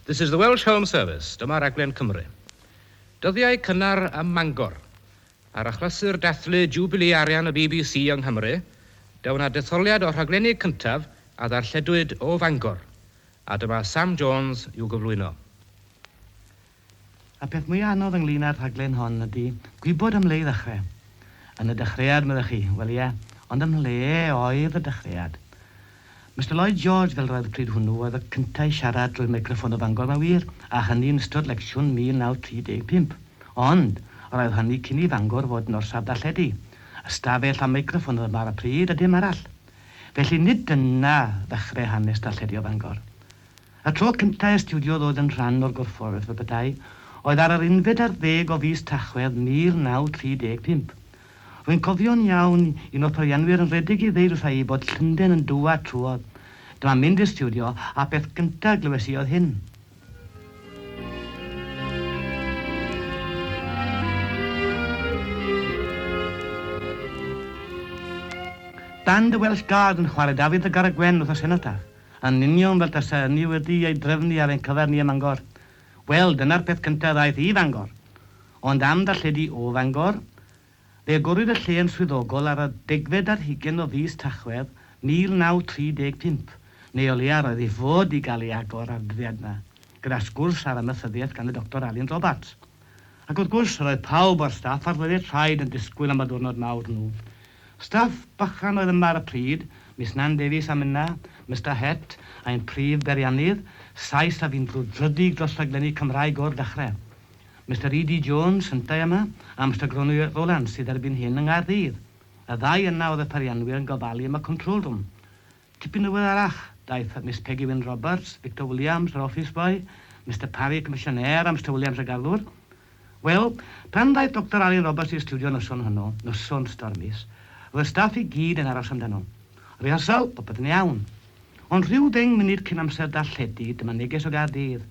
This is the Welsh Home Service, dyma raglen Cymru. Dyddiau cynnar ym Mangor. Ar achlysur dathlu Jiwbilî Arian y bbc yng Nghymru, da wna detholiad o'r rhaglenni cyntaf a ddarlledwyd o Fangor, a dyma Sam Jones i'w gyflwyno. Y peth mwya anodd ynglŷn â'r rhaglen hon ydy gwybod am le i ddechrau. Yn y dechreuad, meddech chi. Wel ie, ond ym mhle oedd y dechreuad? Mister Lloyd George, fel yr oedd pryd hwnnw, oedd y cynta i siarad drwy'r meicroffon o Fangor, mae wir, a hynny yn ystod lecsiwn 1935. Ond, yr oedd hynny cyn i Fangor fod yn orsaf darlledu. Ystafell a meicroffon oedd yma ar y pryd, a dim arall. Felly, nid dyna ddechrau hanes darlledu o Fangor. Y tro cyntaf i stiwdio ddod yn rhan o'r gorfforaeth fel petai oedd ar yr unfed ar ddeg o fis Tachwedd 1935. Rwy'n cofio'n iawn un o'r peirianwyr yn rhedeg i ddeud wrtha i bod Llundain yn dwad trwodd. Dyma mynd i'r stiwdio a'r peth gyntaf glywes i oedd hyn. Band y Welsh Guard yn chwarae Dafydd y Garreg Wen wrth y senotaf. Yn union fel tasa hynny wedi ei drefnu ar ein cyfer ni ym Mangor. Wel, dyna'r peth cyntaf ddaeth i Fangor. Ond am ddarlledu o Fangor? Fe agorwyd y lle yn swyddogol ar y degfed ar hugain o fis Tachwedd 1935, neu o leia roedd i fod i gael ei agor ar y dyddiad 'na, gyda sgwrs ar amaethyddiaeth gan y Doctor Alun Robarts. Ac wrth gwrs, roedd pawb o'r staff a'r gwledydd traed yn disgwyl am y diwrnod mawr nhw. Staff bychan oedd yma ar y pryd, Miss Nan Davies a Minna, Mister Het, ein prif beiriannydd, Sais a fi'n brwdfrydig dros rhaglenni Cymraeg o'r dechrau. Mister ED Jones, yntau yma, a Mister Gronwy Rowlands, sydd erbyn hyn yng Nghaerdydd. Y ddau yna oedd y peirianwyr yn gofalu am y control room. Tipyn ddiweddarach, daeth at Miss Peggy Wyn Roberts, Victor Williams, yr office boy, Mister Parry, y comisiynêr, a Mister Williams, y garddwr. Wel, pan ddaeth Doctor Alun Roberts i'r stiwdio noson honno, noson stormus, roedd y staff i gyd yn aros amdano. Rehyrsawl, popeth yn iawn. Ond rhyw ddeng munud cyn amser darlledu, dyma neges o Gaerdydd.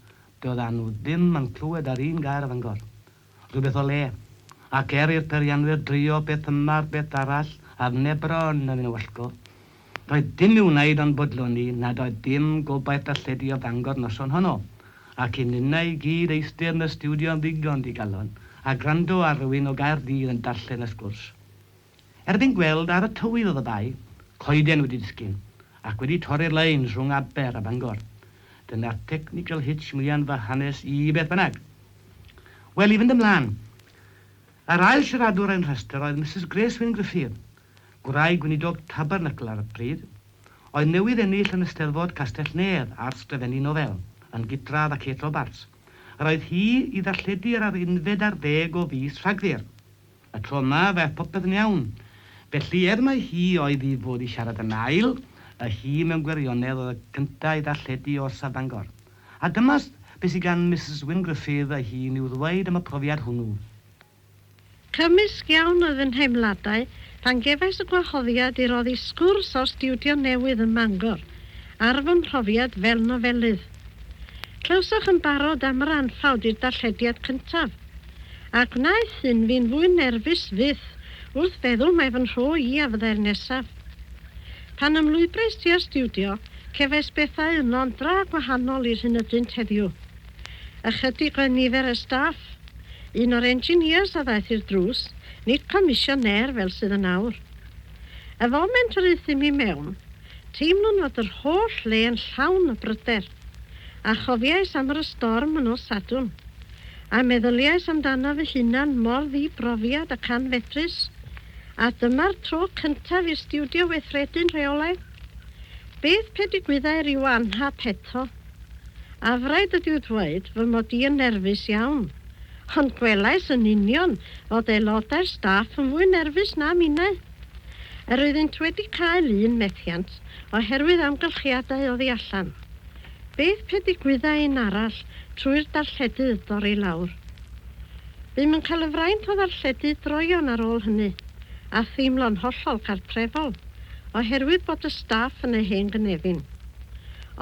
Doeddan nhw ddim yn clywed yr un gair o Fangor. Rhywbeth o le. Ac er i'r peirianwyr drio beth yma ar beth arall a'r nebron yn ein wallgo, doedd dim i'w wneud ond bodloni nad oedd dim gobaith darlledu o Fangor noson honno, ac i ninnau i gyd eistedd yn y stiwdio yn ddigon digalon a gwrando ar rywun o Gaerdydd yn darllen y sgwrs. Erbyn gweld ar y tywydd oedd y bae coeden wedi disgyn ac wedi torri'r leins rhwng Aber a Bangor. Dyna'r technical hitch mwyaf yn fy hanes i beth bynnag. Wel, i fynd ymlaen. Yr ail siaradwr ein rhestr oedd Misus Grace Wyn Gruffudd, gwraig weinidog Tabernacl ar y pryd, oedd newydd ennill yn Eisteddfod Castell-nedd ar sgrifennu nofel, yn gydradd â Kate Robarts. Yr oedd hi i ddarlledu ar yr unfed ar ddeg o fis Rhagfyr. Y tro yma, fe aeth popeth yn iawn. Felly, er mai hi oedd i fod i siarad yn ail, y hi mewn gwirionedd oedd y cynta' i ddarlledu o'r Stad Bangor. A dyma be sy gan Misus Wyn Gruffydd ei hun i'w ddweud am y profiad hwnnw. Cymysg iawn oedd fy nheimladau pan gefais y gwahoddiad i roddi sgwrs o'r stiwdio newydd ym Mangor ar fy mhrofiad fel nofelydd. Clywsoch yn barod am yr anffawd i'r darllediad cyntaf, a gwnaeth hyn fi'n fwy nerfus fyth wrth feddwl mae fy nhro i a fyddai'r nesaf. Pan ymlwybrais ti astudio, cefais bethau yno'n dra gwahanol i'r hyn ydynt heddiw. Ychydig oedd nifer y staff. Un o'r engineers a ddaeth i'r drws, nid comisiyneer fel sydd yn awr. Y foment yr euthum i mewn, Teimlwn fod yr holl le yn llawn o bryder, a chofiais am yr y storm yn nos Sadwrn, a meddyliais amdano fy hunan mor ddi-brofiad ac anfedrus, a dyma'r tro cyntaf i'r stiwdio weithredu'n rheolaidd? Beth pe digwyddai ryw anhap eto? Afraid ydyw ddweud fy mod i yn nerfus iawn, ond gwelais yn union fod aelodau'r staff yn fwy nerfus na minnau. Yr oeddynt wedi cael un methiant oherwydd amgylchiadau oddi allan. Beth pe digwyddai un arall trwy'r darlledydd dorri lawr? Bûm yn cael y fraint o ddarlledu droeon ar ôl hynny, a theimlo'n hollol gartrefol oherwydd bod y staff yn ei hen gynefin.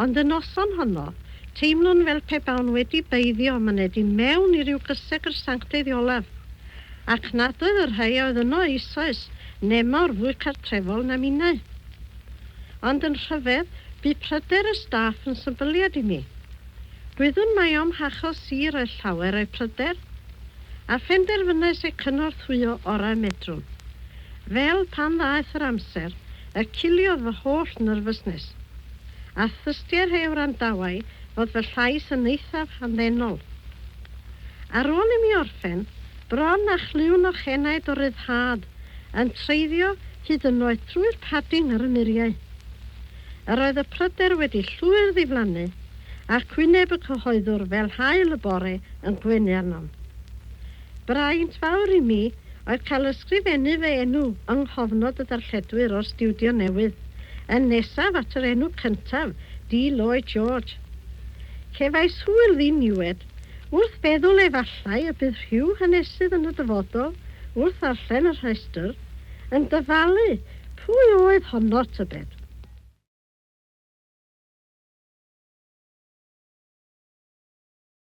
Ond y noson honno, teimlwn fel pe bawn wedi beiddio myned i mewn i ryw gysegr sanctaidd olaf, ac nad oedd y rhai a oedd yno eisoes nemawr fwy cartrefol na minnau. Ond yn rhyfedd, bu pryder y staff yn symbyliad i mi. Gwyddwn mai o'm hachos sir oedd llawer o'u pryder, a phenderfynais eu cynorthwyo orau medrwn. Fel pan ddaeth yr amser, y ciliodd fy holl nyrfysnes, a thystier he wrandawai fod fy llais yn eithaf hamddenol. Ar ôl i mi orffen, bron â chlywn o'ch enaid o ryddhad, yn treiddio hyd yn oed trwy'r padding ar y muriau. Yr oedd y pryder wedi llwyr ddiflannu, ac wyneb y cyhoeddwr fel haul y bore yn gwenu arnom. Braint fawr i mi oedd cael ysgrifennu fy enw yng nghofnod y darlledwyr o'r stiwdio newydd, yn nesaf at yr enw cyntaf, Dee Lloyd George. Cefais hwyl ddiniwed wrth feddwl efallai y bydd rhyw hanesydd yn y dyfodol, wrth ddarllen y rhestr, yn dyfalu pwy oedd honno, tybed?